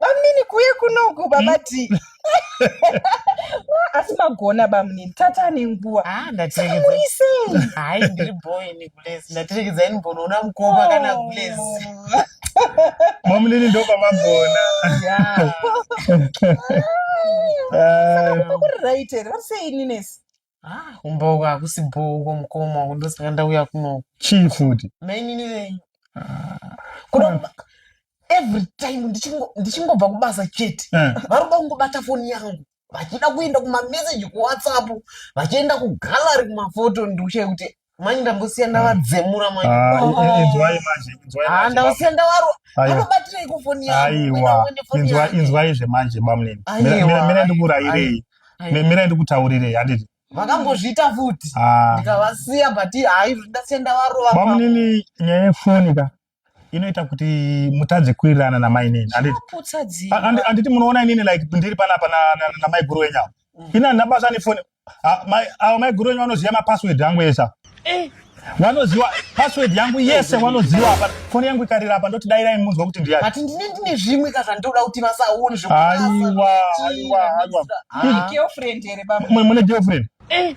bamnini kuye kunoku baba hmm? ti asi magona bamnini tata nenguva ah, ndateeisei hai ndiri boini gulezi ndaterekedza ini mbonoona mukoma kana oh. gulezi mamunini ndopamagona ah, ah. kuri right here vari sei ninesi Ah, umboko hakusi bhoko mukoma uko ndosaka ndauya kunoku chii futi mainini venyu kuda kuba- every time ndichingo- ndichingobva kubasa chete Eh. vari kuda kungobata foni yangu vachida kuenda kumameseji kuwhatsapp vachienda kugallery kumafoto ndikushaya kuti Manje ndambosiya ndavadzemura manje. Ah, oh. eh, eh, inzwai manje, inzwai ah, manje. Ah, ndavasiya ndavaro. Anobatirei kufoni yangu? Aiwa, inzwai, inzwai zve manje bamnini. Mira, mira ndikurairei. Mira ndikutaurirei, handiti? Vakambozviita futi. Ah. Ndikavasiya but hayi ndasiya ndavarova. Bamnini nyaya yefoni ka. inoita kuti mutadze kuwirirana namai nini handiti munoona inini like ndiri panapa namai guru wenyu avo mm. ini handina basa nefoni avo mai guru wenyu vanoziva mapassword angu esa eh. wanoziwa password yangu yese wanoziwa apa foni yangu ikarira apa ndoti dairai munzwa kuti ndiyani but ndine ndine zvimwe ka zvandoda kuti vasaone zvekuaiwa aiwa aiwa girlfriend here baba mune girlfriend eh.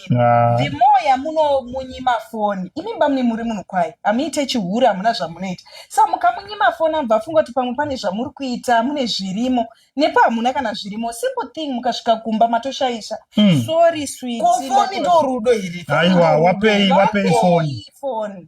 Ah. the more yamunomunyima foni imi bamune muri munhu kwaye hamuite chihuri hamuna zvamunoita sa mukamunyima foni amubva afunga kuti pamwe pane zvamuri kuita mune zvirimo nepo hamuna kana zvirimo simple thing mukasvika kumba matoshaisha Mm. sorry sweet ko foni ndo rudo here aiwa wapei wapei foni foni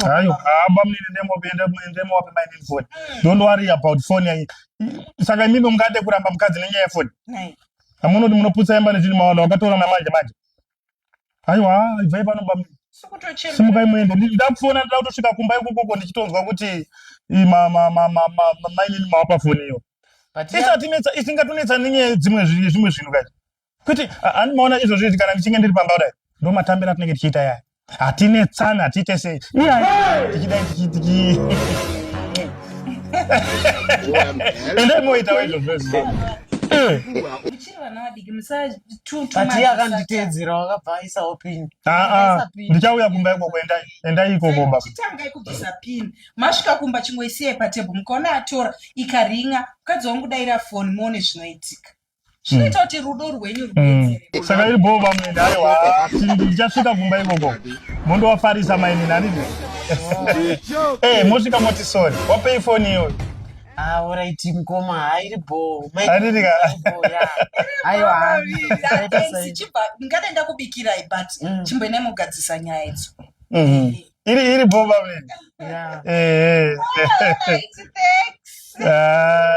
hayo hamba munini ndemopinda munini ndemowape my name phone hmm. don't worry about phone yanyi saka imimi mungade kuramba mukadzi nenyaya yefoni amunoti munoputsa imba nezvini mawana wakatora namanje manje haiwa ibvai pano ba simukai muende ndakufona ndida kutosvika kumba ikokoko ndichitonzwa kuti mainini mawapa foni iyo isatinetsa isingatonetsa nenyaya dzimwe zvimwe zvinhu kacho kwete ani maona izvozvo izvi kana ndichinge ndiri pamba kudai ndo matambira atinenge tichiita yaya hatine tsana hatiite sei iyaya tichidai tichitiki endai moita waizvozvo izvo ati akanditeedzera wakabva aisa opini ndichauya kumba ikoko endai endai ikoko baba chitangai kubvisa pini masvika kumba chingoisiyai patebho mukaona atora ikaringa mukadzi wangu daira foni muone zvinoitika zvinoita kuti rudo rwenyu rubetseresaka iri bhoo vamwe ndaiwa ndichasvika kumba ikoko mondowafarisa maini nani mosvika moti sori wapei foni iyoyo auraiti ah, mkoma hairi bho ndingade ndakubikirai but mm. chimboenai mogadzisa nyaya idzo mm-hmm. eh. iri iri bho vamene eh, eh. ah,